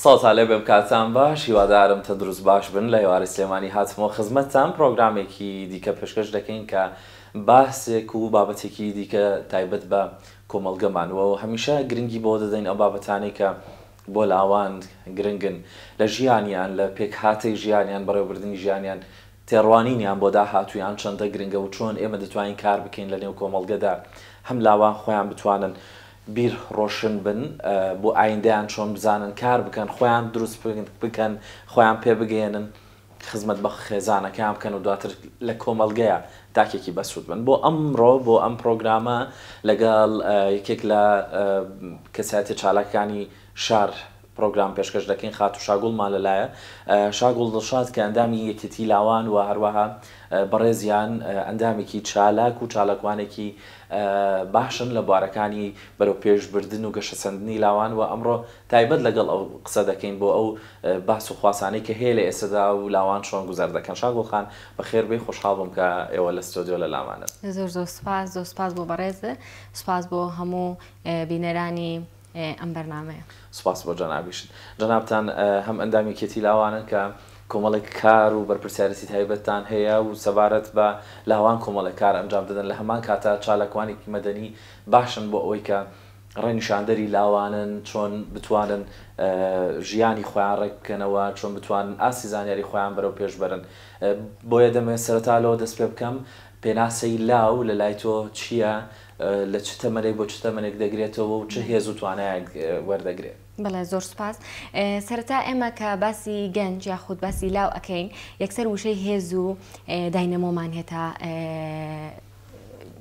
سڵاوتان لێبێ بکاتان باش هیوادارم تەندروست باش بن لە هێوارەی سلێمانی هاتمەوە خزمەتتان پرۆگرامێکی دیکە پێشکەش دەکەین کە باسێک و بابەتێکی دیکە تایبەت بە کۆمەڵگەمان و هەمیشە گرنگی بەوە دەدەین ئەو بابەتانەی کە بۆ لاوان گرنگن لە ژیانیان لە پێکهاتەی ژیانیان بەڕێوەبردنی ژیانیان تێڕوانینیان بۆ داهاتوویان چەندە گرنگە و چۆن ئێمە دەتوانین کار بکەین لە نێو کۆمەڵگەدا هەم لاوان خۆیان بتوانن بیر ڕۆشن بن بۆ ئایندەیان چۆن بزانن کار بکەن خۆیان دروست بکەن خۆیان پێ بگەیەنن خزمەت بە خێزانەکەیان بکەن و دواتر لە کۆمەڵگەیە تاکێکی بەسود بن بۆ ئەمڕۆ بۆ ئەم پرۆگرامە لەگەڵ یەکێک لە کەسایەتیە چالاکانی شار پرۆگرام پێشکەش دەکەین خاتوو شاگوڵمان لە لایە شاگوڵ دڵشاد کە ئەندامی یەکێتی لاوان و هەروەها بەڕێزیان ئەندامێکی چالاک و چالاکوانێکی باشن لە بوارەکانی بەرەو پێش بردن و گەشە سەندنی لاوان وە ئەمڕۆ تایبەت لەگەڵ ئەو قسە دەکەین بۆ ئەو باس و خواسانەی کە هەیە لە ئێستەدا و لاوان چۆن گوزەر دەکەن شاگوڵ خان بەخێر بێی خۆشحاڵ بووم کە ئێوە لە ستۆدیۆ لە لامانن. زۆر زۆر سوپاس زۆر سوپاس بۆ بەڕێزت سوپاس بۆ هەموو بینەرانی ئەم بەرنامەیە. سوپاس بۆ جەنابیشت. جەنابتان هەم ئەندام یەکێتی لاوانن کە کۆمەڵێک کار و بەرپرسیارێتی تایبەتتان هەیە و سەبارەت بە لاوان کۆمەڵێک کار ئەنجام دەدەن لە هەمان کاتە چالاکوانێکی مەدەنی باشن بۆ ئەوەی کە ڕێنیشاندەری لاوانن چۆن بتوانن ژیانی خۆیان ڕێک بکەنەوە چۆن بتوانن ئاستی زانیاری خۆیان بەرەو پێش بەرن بۆیە دەمەوێت سەرەتا لەوە دەست پێ بکەم پێناسەی لاو لە لای تۆ چییە؟ لە چ تەمەنێک بۆ چ تەمەنێک دەگرێتەوە و چ هێز و توانایەک وەردەگرێت؟ بەڵێ زۆر سوپاس. سەرەتا ئێمە کە باسی گەنج یاخود باسی لاو ئەکەین یەکسەر وشەی هێز و داینەمۆمان هێتا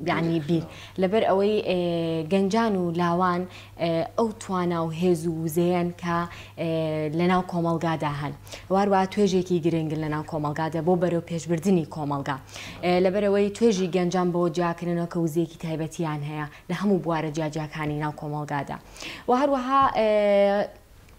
یانی بیر لەبەر ئەوەی گەنجان و لاوان ئەو توانا و هێز و وزەیەن کە لەناو کۆمەڵگادا هەن واروا توێژێکی گرنگ لەناو کۆمەلگادا بۆ بەرەو پێشبردننی کۆمەلگا لەبەرەوەی توێژی گەنجان بۆ جیاکردنەوە کە وزەیەکی تایبەتیان هەیە لە هەموو بوارە جیاجیاکانی ناو کۆمەلگادا و هەروەها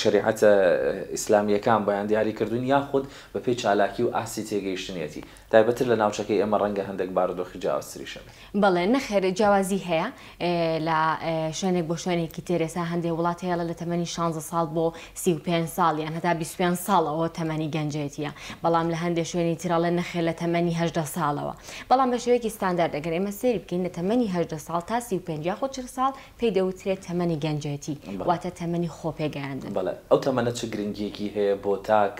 شەریعەتە ئیسلامییەکان بۆیان دیاری کردوون یاخود بە پێی چالاکی و ئاستی تێگەیشتنیەتی؟ تایبەتتر لە ناوچەکەی ئێمە رەنگە هەندێک بارودۆخی جیاوازتریش هەبێ. بەڵێ، نەخێر جیاوازی هەیە لە شوێنێک بۆ شوێنێکی تر، ئێستا هەندێ وڵات هەیە لە تەمەنی شانزە ساڵ بۆ سی و پێنج ساڵ یان هەتا بیست و پێنج ساڵ ئەوە تەمەنی گەنجێتییە، بەڵام لە هەندێ شوێنی تر ئەڵێن نەخێر لە تەمەنی هەژدە ساڵەوە. بەڵام بە شێوەیەکی ستاندارد ئەگەر ئێمە سەیری بکەین لە تەمەنی هەژدە ساڵ تا سی و پێنج یاخود چل ساڵ پێی دەوترێت تەمەنی گەنجێتی، واتە تەمەنی خۆپێگەیاندن. بەڵێ، ئەو تەمەنە چ گرنگییەکی هەیە بۆ تاک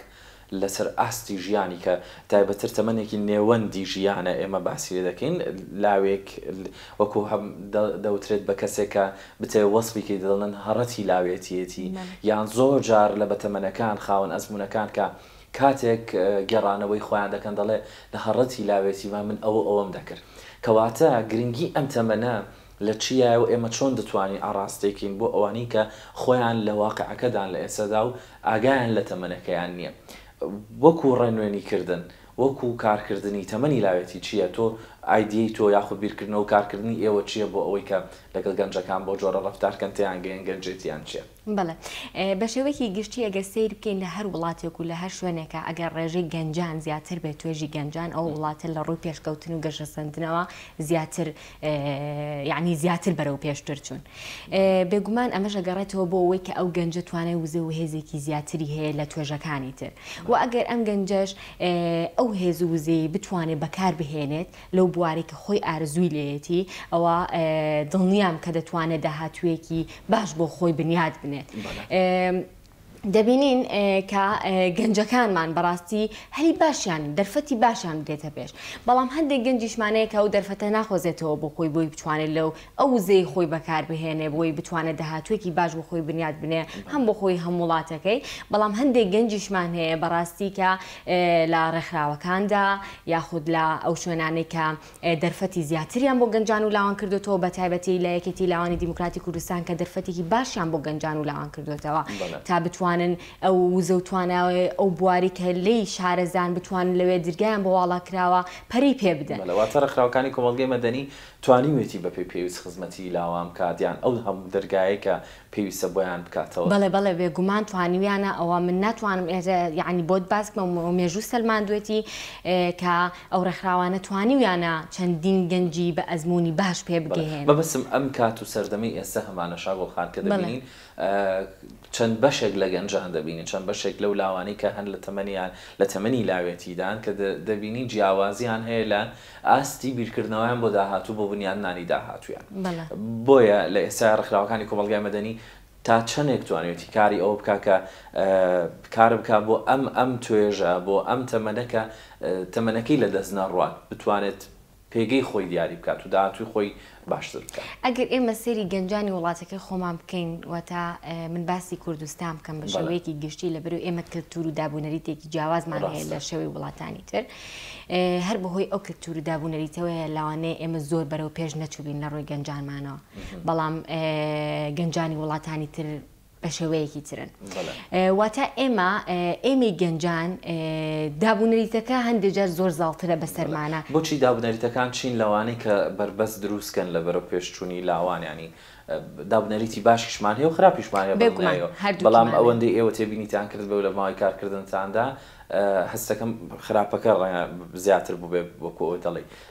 لەسەر ئاستی ژیانی، کە تایبەتتر تەمەنێکی نێوەندی ژیانە ئێمە باسی لێ دەکەین، لاوێک وەکوو هەم دەوترێت بە کەسێک کە بتەوێت وەسفی کەی دەڵێن هەڕەتی لاوێتییەتی یان زۆر جار لە بەتەمەنەکان خاوەن ئەزموونەکان کە کاتێک گێڕانەوەی خۆیان دەکەن دەڵێ لە هەڕەتی لاوێتیمە من ئەو و ئەوەم دەکرد کەواتە گرنگی ئەم تەمەنە لە چیایە و ئێمە چۆن دەتوانین ئاڕاستەی کەین بۆ ئەوانەی کە خۆیان لە واقیعەکەدان لە ئێستەدا و ئاگایان لە تەمەنەکەیان نییە وەکو ڕێنوێنی کردن وەکو کارکردنی تەمەنی لاوێتی چییە تۆ ئایدیەی تۆ یاخود بیرکردنەوە کارکردنی ئێوە چییە بۆ ئەوەی کە لەگەڵ گەنجەکان بەو جۆرە ڕەفتار کەن تێیان گەیەن گەنجێتیان چییە؟ بەڵێ بە شێوەیەکی گشتی ئەگەر سەیر بکەین لە هەر وڵاتێک و لە هەر شوێنێکە ئەگەر ڕێژەی گەنجان زیاتر بێت توێژی گەنجان ئەو وڵاتە لە ڕووی پێشکەوتن و گەشەسەندنەوە زیاتر یعنی زیاتر بەرەو پێشتر چوون بێگومان ئەمەش ئەگەڕێتەوە بۆ ئەوەی کە ئەو گەنجە توانای وزە و هێزێکی زیاتری هەیە لە توێژەکانی تر و ئەگەر ئەم گەنجەش ئەو هێز و وزەی بتوانێت بەکار بهێنێت لەو بوارەی کە خۆی ئارەزووی لێیەتی، ئەوا دڵنیام کە دەتوانێت داهاتوویەکی باش بۆ خۆی بنیات بنێت. دەبینین کە گەنجەکانمان بەڕاستی هەلی باشیان، دەرفەتی باشیان بدێتە پێش، بەڵام هەندێک گەنجیشمان هەیە کە ئەو دەرفەتە ناخوازێتەوە بۆ خۆی بۆی بتوانێت لەو. ئەو وزەی خۆی بەکاربهێنێ بۆی بتوانێ داهاتووێکی باش بۆ خۆی بنیات بنێ هەم بۆ خۆی هەم وڵاتەکەی بەڵام هەندێک گەنجیشمان هەیە بەڕاستی کە لە ڕێکخراوەکاندا یاخود لە ئەو شوێنانەی کە دەرفەتی زیاتریان بۆ گەنجان و لاوان کردوێتەوە بە تایبەتی لە یەکێتی لاوانی دیموکراتی کوردستان کە دەرفەتێکی باشیان بۆ گەنجان و لاوان کردوێتەوە تا بتوانن ئەو وزە و تواناوی ئەو بواری کە لی شارەزان بتوانن لەوێ درگایان بۆ واڵا کراوە پەرەی پێ بدەن. واتە ڕێکخراوەکانی کۆمەڵگەی مەدەنی توانیوێتی بەپێی پێویست خزمەتی لاوان بکات یان ئەو هەموو دەرگایەی کە پێویستە بۆیان بکاتەوە؟ بەڵێ بەڵێ بێگومان توانیویانە ئەوە من ناتوانم ئێرە یەعنی بۆت باس بکەم و مێژوو سەلماندوێتی کە ئەو ڕێکخراوانە توانیویانە چەندین گەنجی بە ئەزموونی باش پێ بەڵێ بگەیێنن. مەبەستم ئەم کات و سەردەمەی ئێستا هەمانە شاگوڵ خان کە بەڵێ. دەبینین چەند بەشێک لە گەنجان دەبینین چەند بەشێک لەو لاوانەی کە هەن لە تەمەنیان لە تەمەنی لاوێتیدان کە دەبینین جیاوازیان هەیە لە ئاستی بیرکردنەوەیان بۆ داهاتوو بۆ بنیادنانی داهاتوویان. بۆیە لە ئێستایا ڕێکخراوەکانی کۆمەڵگای مەدەنی تا چەندێک توانیوێتی کاری ئەوە بکات کە کار بکات بۆ ئەم ئەم توێژە بۆ ئەم تەمەنە کە تەمەنەکەی لەدەست نەڕوات بتوانێت پێگەی خۆی دیاری بکات و داهاتووی خۆی باشتر بکەن. ئەگەر ئێمە سەیری گەنجانی وڵاتەکەی خۆمان بکەین، واتە من باسی کوردستان بکەم بە شێوەیەکی گشتی، لەبەرو ئێمە کەلتورو دابونەریتێکی جیاوازمان هەیە لە شێوەی وڵاتانی تر، هەر بەهۆی ئەو کەلتورو دابونەریتەوەیە لەوانەیە ئێمە زۆر بەرەو پێش نەچوبین لە ڕوی گەنجانمانەوە، بەڵام گەنجانی وڵاتانی تر، بە شێوەیەکی ترن واتە ئێمە ئێمەی گەنجان دابوونەریتەکە هەندێک جار زۆر زاڵترە بەسەرمانە. بۆچی دابنەریتەکان چین لەوانەی کە بەربەست دروستکەن لە بەرەو پێشچوونی لاوان یانی دابنەریتی باشیشمان هەیە و خراپیشمان هەیە بەڵام ئەوەندەی ئێوە تێبینیتان کرد بەو لە ماوەی کارکردنتاندا هەستەکەم خراپەکە ڕەنگە زیاتر بووبێ وەکو ئەوەی دەڵێی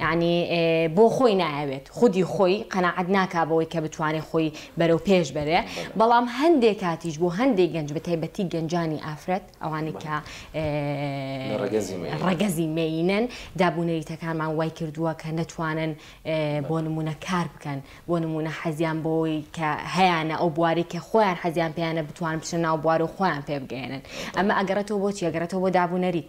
یانی بۆ خۆی نایەوێت خودی خۆی قەناعەت ناکا بەوەی کە بتوانێت خۆی بەرەو پێش بەرێ بەڵام هەندێک کاتیش بۆ هەندێک گەنج بە تایبەتی گەنجانی ئافرەت ئەوانەی کە ڕەگەزی مێینەن دابونەریتەکانمان وای کردووە کە نەتوانن بۆ نمونە کار بکەن بۆ نمونە حەزیان بۆی کە هەیانە ئەو بواری کە خۆیان حەزیان پێیانە بتوان بچە ناو بوار و خۆیان پێ بگەێنن ئەمە ئەگەڕێتەوە بۆ چیەگەڕێتەوە بۆ دابونەریت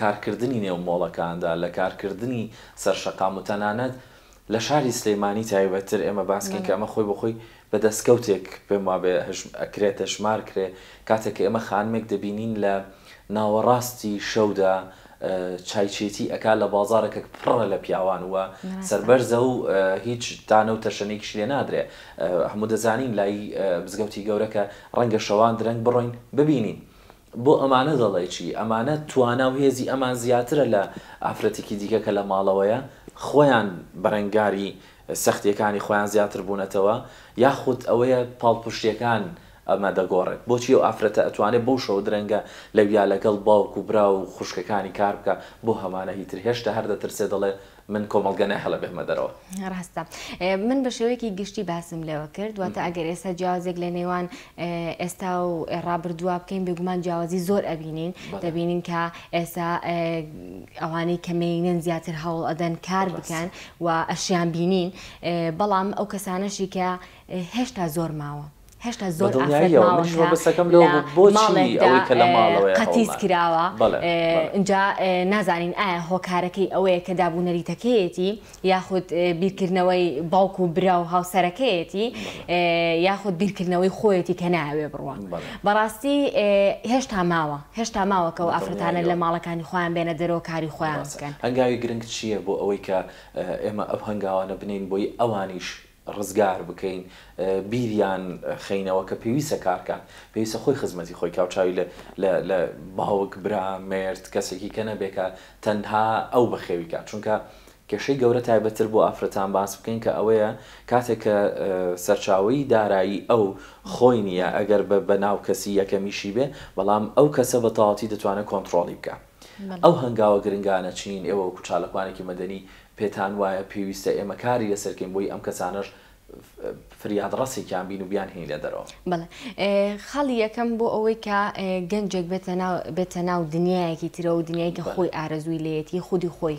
کارکردنی نێو مۆڵەکاندا، لە کارکردنی سەر شەقام و تەنانەت لە شاری سلێمانی تایبەتتر ئێمە باس کەین کە ئەمە خۆی بە خۆی بە دەستکەوتێک پێم وابێ ئەکرێ تەشمار کرێ کاتێک کە ئێمە خانمێک دەبینین لە ناوەڕاستی شەودا چای چێتی ئەکا لە بازارێکێک پڕە لە پیاوان و سەربەرزە و هیچ تانە و تەشەنێکیشی لێ نادرێ هەموو دەزانین لای مزگەوتی گەورە کە ڕەنگە شەوان درەنگ بڕۆین ببینین بۆ ئەمانە دەڵێی چی؟ ئەمانە توانا و هێزی ئەمان زیاترە لە ئافرەتێکی دیکە کە لە ماڵەوەیە، خۆیان بەرەنگاری سەختییەکانی خۆیان زیاتر بوونەتەوە، یاخود ئەوەیە پاڵپشتییەکان ئەمە دەگۆڕێت؟ بۆچی ئەو ئافرەتە ئەتوانێت بەو شەوە درەنگە لەویا لەگەڵ باوک و برا و خوشکەکانی کار بکات، بۆ هەمانە هیتر هێشتا هەر دەترسێت دەڵێت من کۆمەڵگە ناهێڵێ بێمە دەرەوە. ڕاستە. من بە شێوەیەکی گشتی باسم لێوە کرد، دواتە ئەگەر ئێستا جیاوازێک لە نێوان ئێستا و ڕابردووە بکەین بێگومان جیاوازی زۆر ئەبینین دەبینین کە ئێستا ئەوانەی کە مێینەن زیاتر هەوڵ ئەدەن کار بکەن و ئەشیان بینین بەڵام ئەو کەسانەشی کە هێشتا زۆر ماوە. هێشتا زۆر ئافرەت ماوە کە لە ماڵێکدا قەتیس کراوە ئینجا نازانین ئایا هۆکارەکەی ئەوەیە کە دابوو نەریتەکەیەتی یاخود بیرکردنەوەی باوک و برا و هاوسەرەکەیەتی یاخود بیرکردنەوەی خۆیەتی کە ناوێ بڕوە بەڕاستی هێشتا ماوە هێشتا ماوەکە و ئافرەتانە لە ماڵەکانی خۆیان بێنە دەرەوە کاری خۆیان بکەن هەنگاوی گرنگ چییە بۆ ئەوەی کە ئێمە ئەو هەنگاوانە بنین بۆی ئەوانیش ڕزگار بکەین بیریان خەینەوە کە پێویستە کارکات پێویستە خۆی خزمەتی خۆی کا و چاوی لە لە لە باوک برا مێرد کەسێکی کە نەبێ کە تەنها ئەو بەخێوی کات چونکە کێشەی گەورە تایبەت تر بۆ ئافرەتان باس بکەین کە ئەوەیە کاتێک کە سەرچاوەی دارایی ئەو خۆی نیە ئەگەر بە بە ناو کەسی یەکەمیشی بێ بەڵام ئەو کەسە بە تەواوەتی دەتوانێ کۆنتڕۆڵی بکات. ئەو هەنگاوە گرنگانە چین؟ ئێوە وەکو چاالکوانێکی مەدەنی پێتان وایە پێویستە ئێمە کاری لەسەر کەین بۆی ئەم کەسانەش فریاد ڕەسێکیان بین و بیان هێین لە دەرەوە؟ بەڵێ خاڵی یەکەم بۆ ئەوەی کە گەنجێک بێتە ناو دنیایەکی ترەوە دنیایکە خۆی ئارەزووی لێیەتی خودی خۆی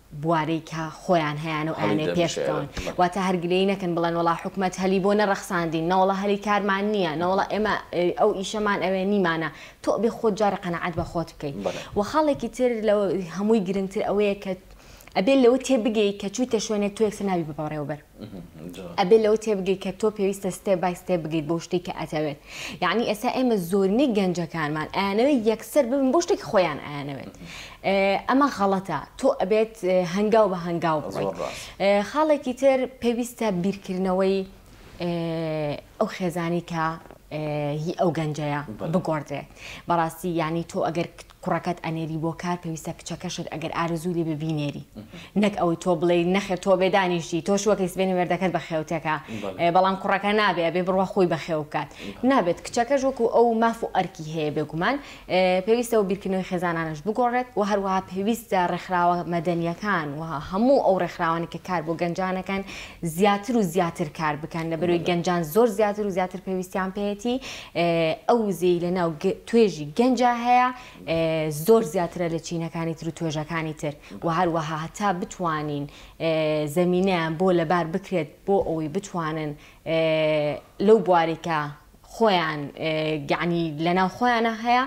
بوارەی کە خۆیان هەیانو ئەیانەوێ پێش بکەون واتە هەر گلەیی نەکەن بڵێن وەڵا حکومەت هەلی بۆ نەڕەخساندین نەوەڵا هەلی کارمان نیە نەوەڵا ئێمە ئەو ئیشەمان ئەوێ نیمانە تۆ ئەبێ خۆت جارێ قەناعەت بە خۆت بکەی وە خاڵێکی تر لە هەمووی گرنگتر ئەوەیە کە ئەبێ لەوە تێ بگەی کە چویتە شوێنێ تۆ یەکسەر نابی بە بەڕێوەبەر ئەبێت لەوە تێبگەیت کە تۆ پێویستە ستێپ بای ستێپ بگەیت بۆ شتێک کە ئەتەوێت یعنی ئێستا ئێمە زۆرینەی گەنجەکانمان ئەیانەوێت یەکسەر ببن بۆ شتێکی خۆیان ئەیانەوێت ئەمە غەڵەتە تۆ ئەبێت هەنگاو بە هەنگاو بڕۆیت خاڵێکی تر پێویستە بیرکردنەوەی ئەو خێزانی کە هی ئەو گەنجەیە بگۆڕدرێت بەڕاستی یعنی تۆ ئەگەر کوڕەکەت ئەنێری بۆ کار پێویستە کچەکەشت ئەگەر ئارەزووی لێبێ بینێری نەک ئەوەی تۆ بڵێی نەخێر تۆ بێ دانیشتی تۆش وەکەی سبێنی مێردەکەت بەخێو تێکا بەڵام کوڕەکە نابێ ئەبێ بڕوا خۆی بەخێو بکات نابێت کچەکەش وەکو ئەو ماف و ئەرکی هەیە بێگومان پێویستە و بیرکردنەوەی خێزانانەش بگۆڕێت و هەروەها پێویستە ڕێکخراوە مەدەنیەکان و هەموو ئەو ڕێکخراوانی کە کار بۆ گەنجانەکەن زیاتر و زیاتر کار بکەن لەبەروی گەنجان زۆر زیاتر و زیاتر پێویستیان پێیەتی ئەو وزەی لە ناو توێژی گەنجا هەیە زۆر زیاترە لە چینەکانی تر و توێژەکانی تر و هەروەها هەتا بتوانین زەمینەیان بۆ لەبار بکرێت بۆ ئەوەی بتوانن لەو بوارێکە خۆیان گەعنی لەناو خۆیانە هەیە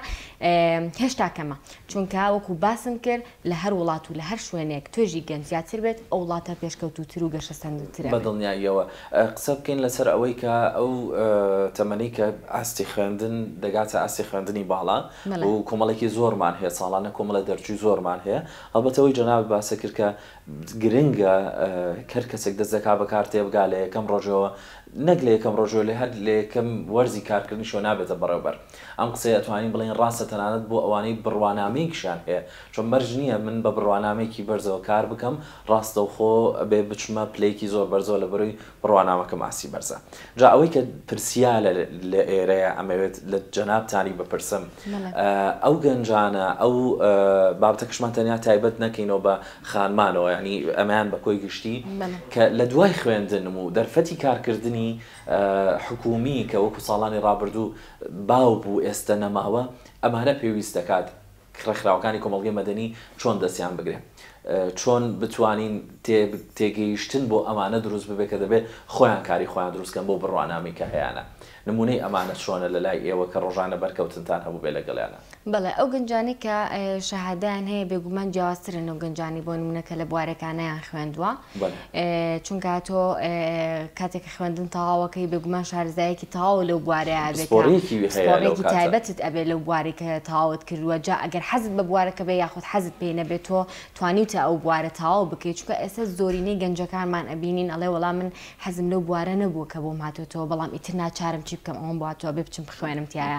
هێشتا کەمە چونکە وەکو باسم کرد لە هەر وڵات و لە هەر شوێنێک توێژی گەل زیاتر بێت، ئەو وڵاتە پێشکەوتووتر و گەشەسەندووتر ئەبێت. بەدڵنیاییەوە قسە بکەین لەسەر ئەوەی کە ئەو تەمەنەی کە ئاستی خوێندن دەگاتە ئاستی خوێندنی باڵا و کۆمەڵێکی زۆرمان هەیە ساڵانە کۆمەڵە دەرچووی زۆرمان هەیە، هەڵبەتە ئەوەی جەنابت باسە کرد کە گرنگە هەر کەسێک دەست دەکات بە کار تێبگات لە یەکەم ڕۆژەوە، نەک لە یەکەم ڕۆژەوە لە هەر لە یەکەم وەرزی کارکردنیشەوە نابێتە بەڕێوبەر. ئەم قسەیە ئەتوانین بڵێین ڕاستە تەنانەت بۆ ئەوانەی بڕوانامەیەکیشیان هەیە، چۆن مەرج نییە من بە بڕوانامەیەکی بەرزەوە کار بکەم، ڕاستەوخۆ بێ بچمە پلەیەکی زۆر بەرزەوە لەبەرەوەی بڕوانامەکەم ئاستی بەرزە. جا ئەوەی کە پرسیالە لە ئێرەیە ئەمەوێت لە جەنابتانی بپرسم ئەو گەنجانە ئەو بابەتەکەشمان تەنیا تایبەت نەکەینەوە بە خانمانەوە یانی ئەمەیان بە کۆی گشتی کە لە دوای خوێندنم و دەرفەتی کارکردنی حکوومی کە وەکوو ساڵانی ڕابردوو باو بوو ئێستە نەماوە ئەمانە پێویست دەکات ڕێکخراوەکانی کۆمەڵگەی مەدەنی چۆن دەستیان بگرێ چۆن بتوانین تێگەیشتن بۆ ئەمانە دروست ببێ کە دەبێ خۆیان کاری خۆیان دروست کەن بۆ بڕوانامەی کە هەیانە نموونەی ئەمانە چۆنە لە لای ئێوە کە ڕۆژانە بەرکەوتنتان هەبوو بێ لەگەڵیانە؟ بەڵێ ئەو گەنجانەی کە شەهادەیان هەیە بێگومان جیاوازترن و گەنجانی بۆ نمونە کە لە بوارەکانیان خوێندووە چونکە تۆ کاتێک خوێندن تەواوەکەی بێگومان شارزایەکی تەواو لەو بوارەیە بێتڕێکی تایبەتت ئەبێ لەو بواری کە تەواوت کردووە جا ئەگەر حەزت بە بوارەکە بێ یاخود حەزت پێ نەبێت تۆ توانیوتە ئەو بوارە تەواو بکەیت چکە ئێستا زۆرینەی گەنجەکانمان ئەبینین ئەڵێ وەڵام من حەزم لەو بوارە نەبوو کە بۆم هاتوتەوە بەڵام ئیتر ناچارم چی بکەم ئەوم باتوە بێ بچم بخوێنم تایە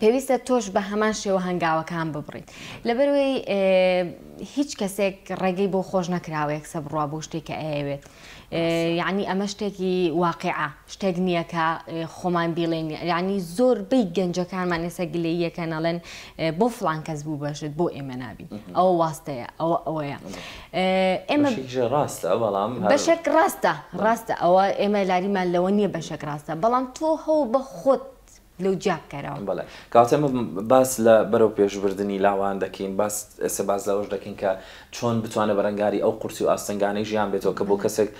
پێویستە تۆش بە هەمان شێوە هەنگاوەکان ببڕیت لەبەروەی هیچ کەسێک ڕێگەی بۆ خۆش نەکراوەیەک سە بڕوا بۆ شتێک کە ئەیەوێت یعنی ئەمە شتێکی واقعە شتێک نییە کە خۆمان بیڵێن ینی زۆر بیت گەنجەکانمان ئێستا گلەیەکە نەڵێن بۆ فلان کەس بوو بەشت بۆ ئێمە نابی ئەو واستەیە ئەوە ئەوەیە ئێمە ڕاستە بەڵام بەشێک ڕاستە ڕاستە ئەوە ئێمە لاریمان لەوە نییە بەشێک ڕاستە بەڵام تۆ هەو بە خۆت لەو جیا بکەرەوە. بەڵێ کەواتە ئێمە باس لە بەرەو پێش بردنی لاوان دەکەین باس ئێستا باس لەوەش دەکەین کە چۆن بتوانێت بەرەنگاری ئەو قورسی و ئاستەنگانەی ژیان بێتەوە کە بۆ کەسێک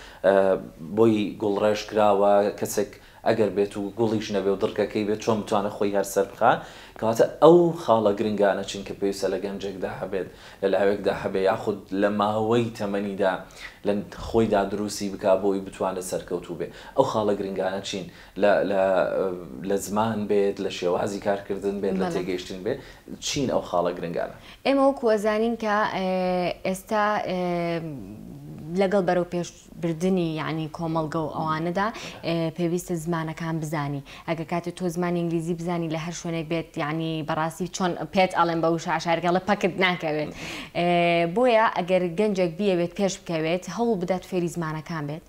بۆی گوڵڕێژ کراوە کەسێک ئەگەر بێت و گوڵیش نەبێ و دڕکەکەی بێت چۆن بتوانێت خۆی هەر سەر بخا کەواتە ئەو خاڵە گرنگانە چین کە پێویستە لە گەنجێکدا هەبێت لە لاوێکدا هەبێ یاخود لە ماوەی تەمەنیدا لە خۆیدا دروستی بک بۆی بتوانێت سەرکەوتوو بێ ئەو خاڵە گرنگانە چین لە لە لە زمان بێت، لە شێوازی کارکردن بێت، لە تێگەیشتن بێت، چین ئەو خاڵە گرنگانە؟ ئێمە وەکو ئەزانین کە ئێستا لەگەڵ بەرەو پێش بردنی یعنی کۆمەڵگە و ئەوانەدا پێویستە زمانەکان بزانی ئەگە کاتێ تۆ زمانی ئینگلیزی بزانی لە هەر شوێنێک بێت یعنی بەڕاستی چۆن پێت ئەڵێن بە وشە عشارگەڵە پەکت ناکەوێت بۆیە ئەگەر گەنجێک بیەوێت پێش بکەوێت هەوڵ بدات فێری زمانەکان بێت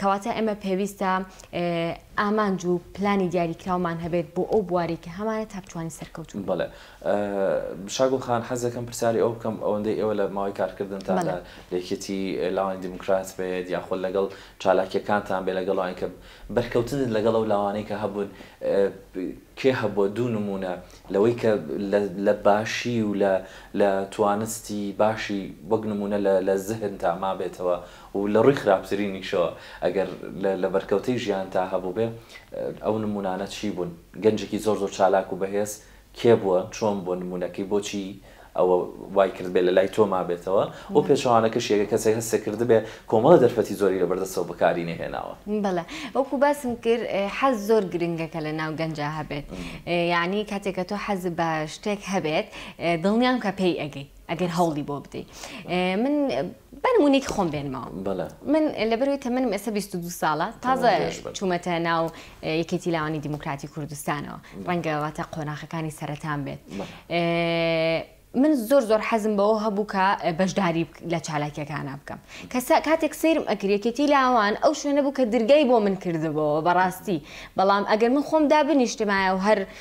کەواتە ئێمە پێویستە ئامانج و پلانی دیاریکراومان هەبێت بۆ ئەو بوارەی کە هەمانە تا بتوانین سەرکەوتوو بین. بەڵێ. شاگوڵ خان حەز دەکەم پرسیاری ئەوە بکەم، ئەوەندەی ئێوە لە ماوەی کارکردنتان لە یەکێتی لاوانی دیموکرات بێت یاخود لەگەڵ چالاکییەکانتان بێت لەگەڵ ئەوانی کە بەرکەوتنت لەگەڵ ئەو لاوانەی کە هەبوون کێ هەبووە دوو نموونە لەوەی کە لە باشی و لە توانستی باشی وەک نموونە لە زهنتا مابێتەوە و لە ڕووی خراپترینیشەوە ئەگەر لە لە بەرکەوتەی ژیانتا هەبووبێ ئەو نموونانە چی بوون؟ گەنجێکی زۆر زۆر چالاک و بەهێز کێ بووە؟ چۆن بووە نموونەکەی؟ بۆچی ئەوە وای کردبێ لە لای تۆ مابێتەوە؟ و پێچەوانەکەشی ئەگەر کەسێک هەستی کردبێ کۆمەڵە دەرفەتی زۆری لە بەردەستەوە بەکاری نەهێناوە؟ بەڵێ وەکوو باسم کرد حەز زۆر گرنگە کە لە ناو گەنجا هەبێت یانی کاتێک کە تۆ حەزت بە شتێک هەبێت دڵنیام کە پێی ئەگەی ئەگەر هەوڵی بۆ بدەی من با نموونەیەکی خۆم بێنمەوە. بەڵێ. من لەبەرئەوەی تەمەنم ئێستا بیست و دوو ساڵە، تازە تەمەن درێژ بن. چوومەتە ناو ئێ، یەکێتی لاوانی دیموکراتی کوردستانەوە. ڕەنگە واتە قۆناخەکانی سەرەتام بێت. بەڵێ. ئێ، من زۆر زۆر حەزم بەوە هەبوو کە ئێ، بەشداری بک لە چالاکییەکانا بکەم. کە سا کاتێک سەیرم ئەکرد یەکێتی لاوان ئەو شوێنە بوو کە درگای بۆ من کردبۆوە بەڕاستی. بەڵام ئەگەر من خۆم دابنیشتمایە و هەر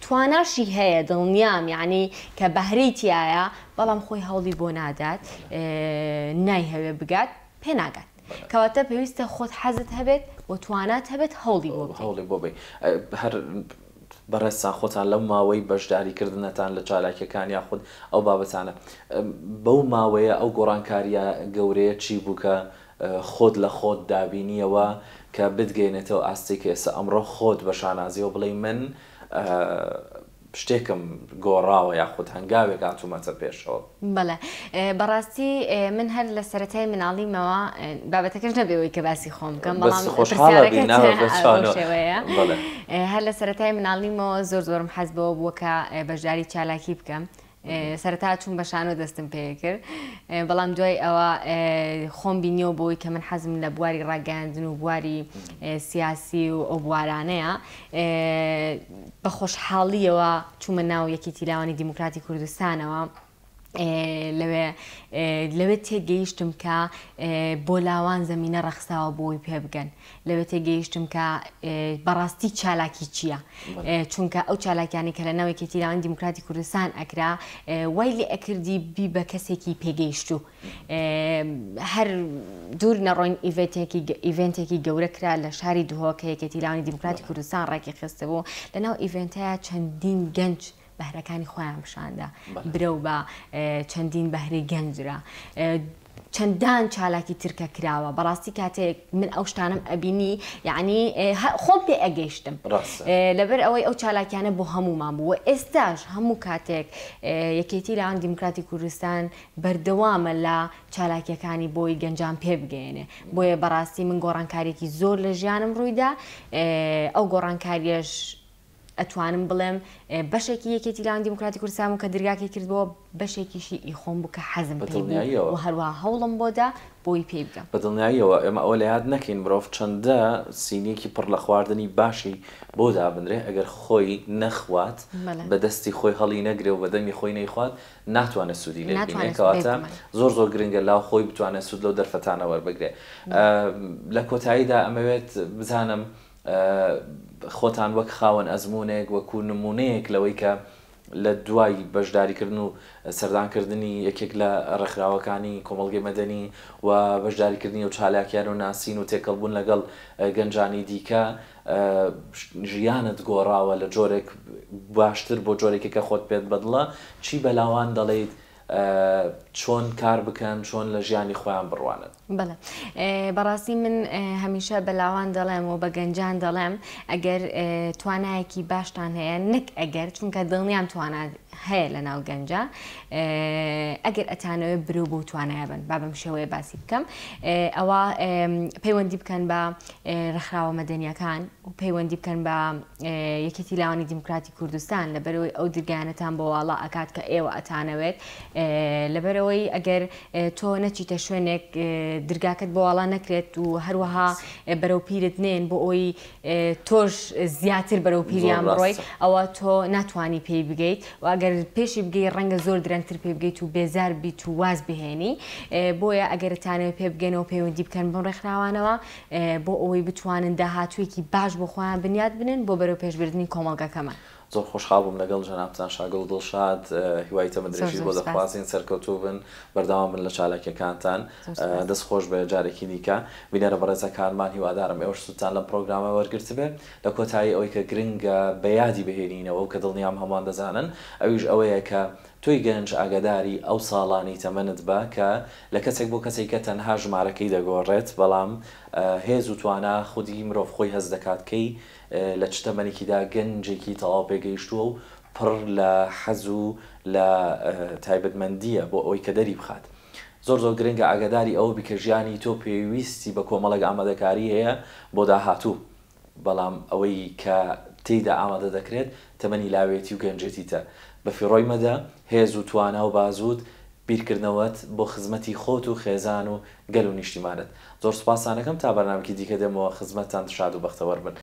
تواناشی هەیە دڵنیام یانی کە بەهرەی تیایە بەڵام خۆی هەوڵی بۆ نادات نایهەوێ بگات پێ ناگات کەواتە پێویستە خۆت حەزت هەبێت و توانات هەبێت هەوڵی بۆ بدەی. هەوڵی بۆ بەی هەر بەڕێزتان خۆتان لەو ماوەی بەشداری کردنەتان لە چالاکیەکان یاخود ئەو بابەتانە بەو ماوەیە ئەو گۆڕانکاریە گەورەیە چی بوو کە خۆت لە خۆت دابینیەوە کە بتگەینێتەوە ئاستێکی ئێستا ئەمڕۆ خۆت بە شانازیەوە بڵێی من شتێکم گۆڕاوە یاخود هەنگاوێک هاتوومەتە پێشەوە. بەڵێ بەڕاستی من هەر لە سەرەتای مناڵیمەوە بابەتەکەش نەبێ ئەوەی کە باسی خۆم بکەم بەڵام پرسیارەکەت بەو شێوەیە هەر لە سەرەتای مناڵیمەوە زۆر زۆرم حەز بەوە بووە کە بەشداری چالاکی بکەم سەرەتا چووم بە شانۆ دەستم پێکرد بەڵام دوای ئەوە خۆم بینیەوە بۆی کە من حەزم لە بواری ڕاگەاندن و بواری سیاسی و ئەو بوارانەیە بە خۆشحاڵیەوە چوومە ناو یەکی تیلاوانی دیموکراتی کوردستانەوە. لەوێ لەوێ تێگەیشتم کە بۆ لاوان زمینە ڕەخساوە بۆی پێبگەن لەوێ تێگەیشتم کە بەڕاستی چالاکی چییە چونکە ئەو چالاکیانی کە لە ناوێکی تیراوانی دیموکراتی کوردستان ئەکرا وای لێ ئەکردی بی بە کەسێکی پێگەیشت و هەر دوور نەڕۆین ئیڤێنتێکی گەورە کرا لە شاری دهۆکەیەکێتی لاوانی دیموکراتی کوردستان ڕێکی خستبوو لەناو ئیڤێنتەیە چەندین گەنج بەهرەکانی خۆیان پیشاندا برەو بە چەندین بەهرەی گەنجرا چەندان چالاکی ترکە کراوە بەڕاستی کاتێک من ئەو شتانم ئەبینی یعنی خۆم پێ ئەگەیشتم لەبەر ئەوەی ئەو چالاکیانە بۆ هەمومان بووە ئێستاش هەموو کاتێک یەکێتی لاوان دیموکراتی کوردستان بەردەوامە لە چالاکیەکانی بۆی گەنجان پێ بگەێنێ بۆیە بەڕاستی من گۆڕانکارێکی زۆر لە ژیانم ڕوویدا ئەو گۆڕانکاریش ئەتوانم بڵێم بەشێکی یەکێتی لاوانی دیموکراتی کوردستان بوو کە درگاکەی کردبووە، بەشێکیشی ئی خۆم بوو کە حەزم پێی بوو و هەروەها هەوڵم بۆ دا بۆی پێی بگەم. بە دڵنیاییەوە ئێمە ئەوە لەیاد نەکەین مرۆڤ چەندە سینییەکی پڕ لە خواردنی باشی بۆ دابنرێ، ئەگەر خۆی نەخوات، بە دەستی خۆی هەڵی نەگرێ و بە دەمی خۆی نەیخوات، ناتوانێ سوودی لێ ببینێ. کەواتە زۆر زۆر گرنگە لاو خۆی بتوانێ سوود لەو دەرفەتانە وەربگرێ. لە کۆتاییدا ئەمەوێت بزانم خۆتان وەک خاوەن ئەزموونێک، وەکو نموونەیەک لەوەی کە لە دوای بەشداریکردن و سەردانکردنی یەکێک لە ڕێکخراوەکانی کۆمەڵگەی مەدەنی و بەشداریکردنی و چالاکیان و ناسین و تێکەڵبوون لەگەڵ گەنجانی دیکە ژیانت گۆڕاوە لە جۆرێک باشتر بۆ جۆرێکی کە خۆت پێت بەدڵە چی بەلاوان دەڵێیت چۆن کار بکەن چۆن لە ژیانی خۆیان بڕوانن. بەڵێ بەڕاستی من هەمیشە بە لاوان دەڵێم و بە گەنجان دەڵێم ئەگەر توانایەکی باشتان هەیە نەک ئەگەر چونکە دڵنیام توانا هەیە لە ناو گەنجە ئەگەر ئەتانەوە برو بۆ توانایە بن با بەم شێوەیە باسی بکەم ئەوە پەیوەندی بکەن بە ڕخراوە مەدەنیەکان و پەیوەندی بکەن بە یەکێتی لاوانی دیموکراتی کوردستان لەبەرئەوەی ئەو درگانەتان بۆ واڵا ئەکات کە ئێوە ئەتانەوێت لەبەرئەوەی ئەگەر تۆ نەچیتە شوێنێک درگاکەت بۆ واڵا نەکرێت و هەروەها بەرەو پیرت نێن بۆ ئەوی تۆش زیاتر بەرەو پیریان بڕۆی ئەوە تۆ ناتوانانی پێی بگەیت و ئەگەر پێشی بگەی ڕەنگە زۆر درەنگتر پێ بگەیت و بێزار بیت و واز بهێنی بۆیە ئەگەرتانەوە پێ بگەنەوە پەیوەندی بکەن بۆ ڕێکخراوانەوە بۆ ئەوەی بتوانن داهاتوویەکی باش بۆ خۆیان بنیات بنێن بۆ بەرەوپێشبردنی کۆمەڵگەکەمان. زۆر خۆشحاڵ بووم لەگەڵ جەنابتان شاگڵ دڵشاد هیوای تەمەندرێژیت بۆ دەخوازین سەرکەوتوو بن بەردەوام بن لە چالاکیەکانتان دەست خۆش بێت جارێکی دیکە بینەرە بەڕێزەکانمان هیوادارم ئێوەش سوودتان لەم پڕۆگرامە وەرگرتبێت لە کۆتایی ئەوەی کە گرنگە بە یادی بهێنینەوە و کە دڵنیام هەمووان دەزانن ئەویش ئەوەیە کە تۆی گەنج ئاگاداری ئەو ساڵانی تەمەنت بە کە لە کەسێک بۆ کەسێکە تەنها ژمارەکەی دەگۆڕێت بەڵام هێز و توانا خودی مرۆڤ خۆی هەست دەکات کەی لە چ تەمەنێکیدا گەنجێکی تەواو پێگەیشتووە و پڕ لە حەز و لە تایبەتمەندییە بۆ ئەوەی کە دەری بخات زۆر زۆر گرنگە ئاگاداری ئەوە بی کە ژیانی تۆ پێویستی بە کۆمەڵێک ئامادەکاری هەیە بۆ داهاتوو بەڵام ئەوەی کە تێیدا ئامادە دەکرێت تەمەنی لاوێتی و گەنجێتیتە، بەفیڕۆی مەدە، هێز و توانا و بازووت، بیرکردنەوەت بۆ خزمەتی خۆت و خێزان و گەل و نیشتیمانت. زۆر سوپاستان ئەکەم، تا بەرنامەکی دیکە دێمەوە خزمەتتان شاد و بەختەوەر بن.